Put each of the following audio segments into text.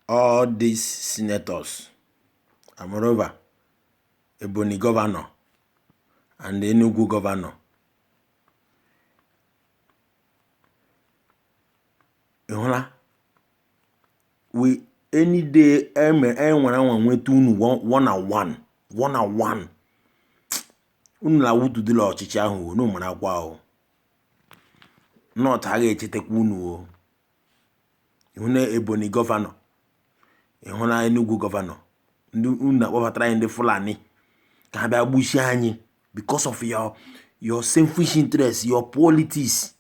all these senators and moreover Ebonyi governor and the Enugu governor ịhụla we any day enwere e enwere anwa nweta unu one on one one on one unu la-awụtudila ọchịchị ahụ unu marakwa o North aga echetakwa unu o ịhụ na Ebonyi governor ịhụ na Enugu governor ndị unu na-akpọbatara anyị ndị Fulani ka ha bịa gbusie anyị because of your your selfish interest your politics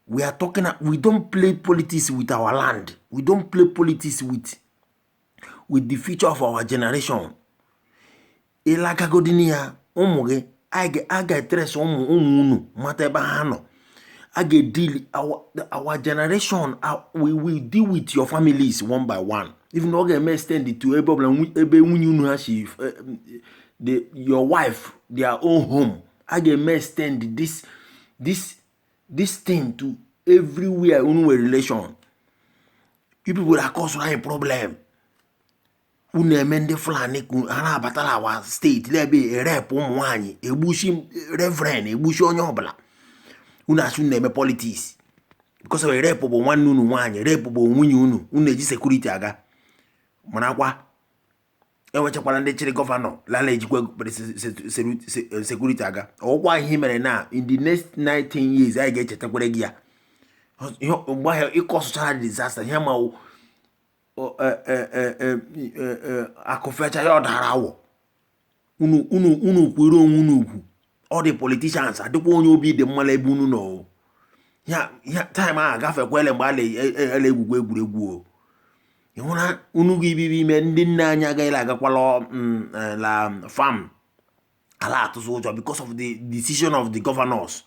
we are talking we don't play politics with our land we don't play politics with with the future of our generation ịlagagodini ya ụmụ gị a ga-etrace ụmụ ụmụ unu mata ebe ha nọ a ga-edeal our generation we will deal with your families one by one even ọ ga-eme extend to ebe ọbụla ebe nwunye unu ha si eh, the your wife their own home a ga-eme extend this this this thing to everywhere unu nwere relation you people are causing a problem unu eme ndị fulani ha na-abata la our state n'ebe erape ụmụ nwaanyị egbusi reverend egbusi onye ọbụla unu asị unu na-eme politics because rape bụ nwanne unu nwaanyị rape bụ nwunye unu unu eji security aga marakwa enwechakwara ndị chịrị governor lala ejikwa security aga ọkwa ihe mere na in the next 19 years anyị ga-echetakwere gị ya mgbe ahụ ị causechara disaster ihe ma akụ fecha ya ọ dara awọ unu unu unu kwere onwe unu ugwu all the politicians adịkwa onye obi dị mma ebe unu nọ ya ya time agafekwele mgbe a la-egwu egwu e, e, egwuregwu o ịhụna unu gị ibibi ime ndị nne anyị agaghị agakwala mm, e, la farm ala atụzụ ụjọ because of the decision of the governors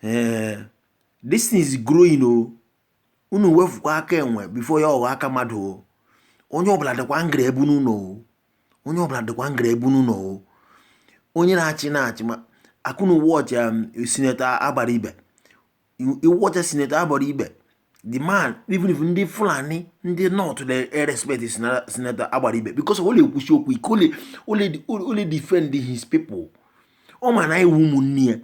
eh, this thing is growing o oh. unu wefukwa aka enwe before ya ọghọ aka mmadụ o oh. onye ọbụla dịkwa angry ebe unu nọ o onye ọbụla dịkwa angry ebe unu nọ o onye na-achị na-achị ma ka unu watch um, Senator Abaribe you, you watch Senator Abaribe. The man, even if ndị Fulani, ndị North, they respect Senator Abaribe because ọ la-ekwusi okwu ike ọ la ọ la ọ la-edefend his people. Ọ ma na anyị wụ ụmụnne ya,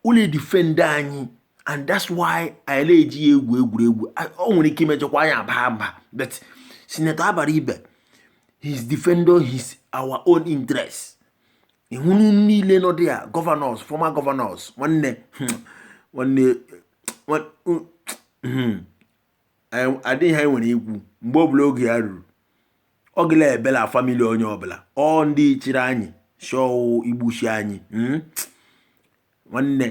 ọ la-edefend anyị and that's why anyị na-eji ya egwu egwuregwu. Ọ nwere ike imejọkwa anyị aba mba but Senator Abaribe, he's defending his our own interests. ịhụ unu niile nọ there governors former governors nwanne hmm, nwanne hmm, adịghị ihe e nwere ikwu mgbe ọbụla oge ya ruru ọ gịla ebela family onye ọbụla ọ ndị chịrị anyị chọọ igbuchi anyị hmm? nwanne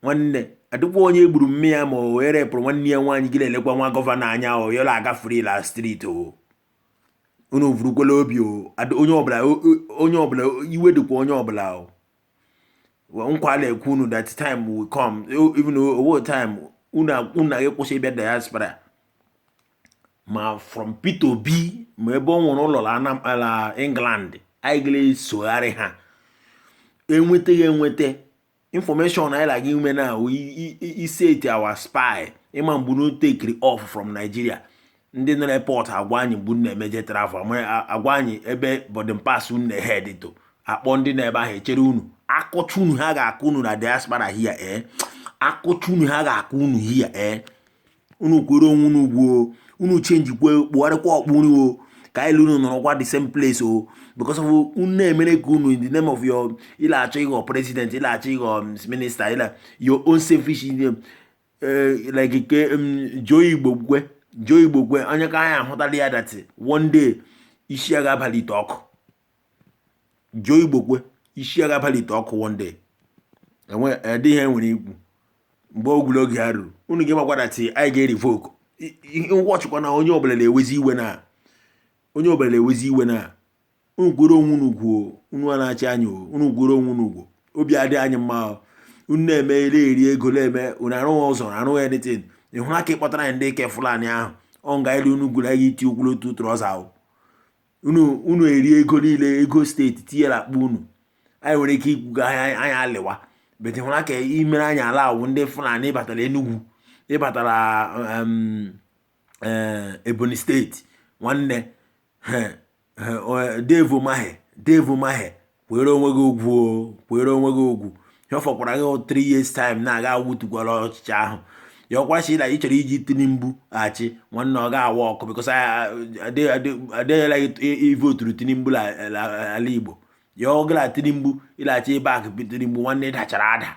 nwanne adịkwa onye gburu mme ya ma o were pụrụ nwanne ya nwaanyị gị na-elekwa nwa governor anya o yola aga free la street o unu vurukwa la obi onye ọbụla onye ọbụla iwe dịkwa onye ọbụla nkwa na-ekwe unu that time will come even owo time unu ga-akwụsị ịbịa diaspora ma from Peter Obi ma ebe ọ nwere ụlọ la England anyị gịla esogharị ha enweta enweta information anyị la-aga ime now wụ iset our spy ịma mgbe unu tekiri off from Nigeria ndị nọ n'airport agwa anyị mgbe unu emeje travel agwa anyị ebe boarding pass unu na-ehead to akpọ ndị na-ebe ahụ echere unu akụcha unu ha ga-akụ unu na diaspora here ee eh? akụcha unu ha ga-akụ unu here ee eh? unu kwere onwe unu ugwu o unu changekwa kpụgharịkwa okpu unu o ka anyị la unu nọrọkwa the same place o because of unu na-emere ka unu in the name of your ịla achọ ịghọ president ịla achọ ịghọ um, minister ịla your own selfish um, eh, like ke um, Joe Igbokwe Joe Igbokwe onye ka anyị ahụtala ya that one day isi ya ga-abalị ite ọkụ Joe Igbokwe isi ya ga-abalị ite ọkụ one day enwe adịghị ihe nwere ikwu mgbe ọbụla oge ya ruru unu ga-amakwa that anyị ga-erevoke watchikwa na onye ọbụla na-ewezi iwe na onye ọbụla na-ewezi iwe na unu kwere onwe unu ugwu o unu ana-achị anyị o, unu kwere onwe unu ugwu o obi adị anyị mma o. unu na-eme eri eri ego na-eme unu arụghị ụzọ unu arụghị anything ị hụrụ aka ịkpọtara anyị ndị ke Fulani ahụ ọ nga elu unu gwuru anyị iti ụkwụ la otu trouser ahụ unu unu eri ego niile ego state tinye na akpa unu anyị nwere ike ikwuga anyị anyị alịwa but hụra ka imere anyị allow ndị Fulani ịbata la Enugwu ịbata la em, eh, Ebonyi state nwanne he, he, o- Dave Umahi Dave Umahi kwere onwe gị ugwu o kwere onwe gị ugwu ihe ọ fọkwara gị o three years time na ị ga-awụtukwa la ọchịchị ahụ ya wụkwa sị na ị chọrọ iji tinubu achị nwanne ọ ga-awork because adịghịla ivoturu tinubu la- la- ala igbo ya ọ gara tinubu ịlachi ebe akụ tinubu nwanne ị dachara ada